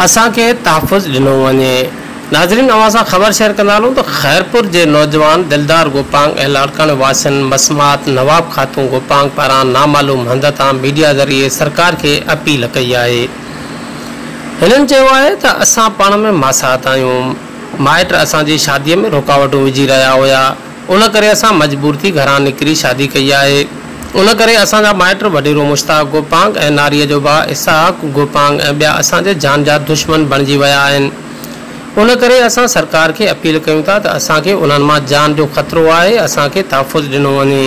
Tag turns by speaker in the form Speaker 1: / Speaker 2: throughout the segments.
Speaker 1: اسان کي تحفظ ڏنو وڃي. ناظرين اوهان سان خبر شيئر ڪندا هلون ته خيرپور جي نوجوان دلدار گوپانگ ۽ لاڙڪاڻي واسين مسمات نواب خاتون گوپانگ پاران نامعلوم هنڌ تان ميڊيا ذريعي سرڪار کي اپيل ڪئي آهي هنن چيو آهي ته اسان پاڻ ۾ ماسات آهيون، مائٽ اسان جي شادي ۾ رڪاوٽون وجهي رهيا هيا، ان ڪري اسان مجبور ٿي گهران نڪري شادي ڪئي آهي، ان ڪري اسان جا مائٽ وڏيرو مشتاق گوپانگ ۽ ناريء جو ڀاء اسحاق گوپانگ ۽ ٻيا اسان جي جان جا دشمن بڻجي ويا آهن، ان ڪري اسان سرڪار کي اپيل ڪيون ٿا ته اسان کي انهن مان جان جو خطرو آهي، اسان کي تحفظ ڏنو وڃي.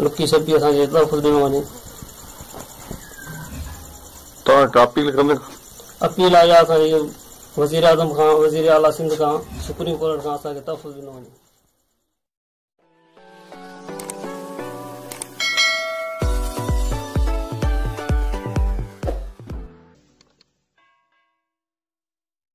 Speaker 2: لڪي ڇپي اسان کي تحفظ ڏنو وڃي.
Speaker 3: توهان ڪا اپيل ڪندا؟ اپيل
Speaker 2: آهي اسان جي وزير اعظم کان، وزير اعليٰ سنڌ کان، سپريم ڪورٽ کان اسان کي تحفظ ڏنو وڃي.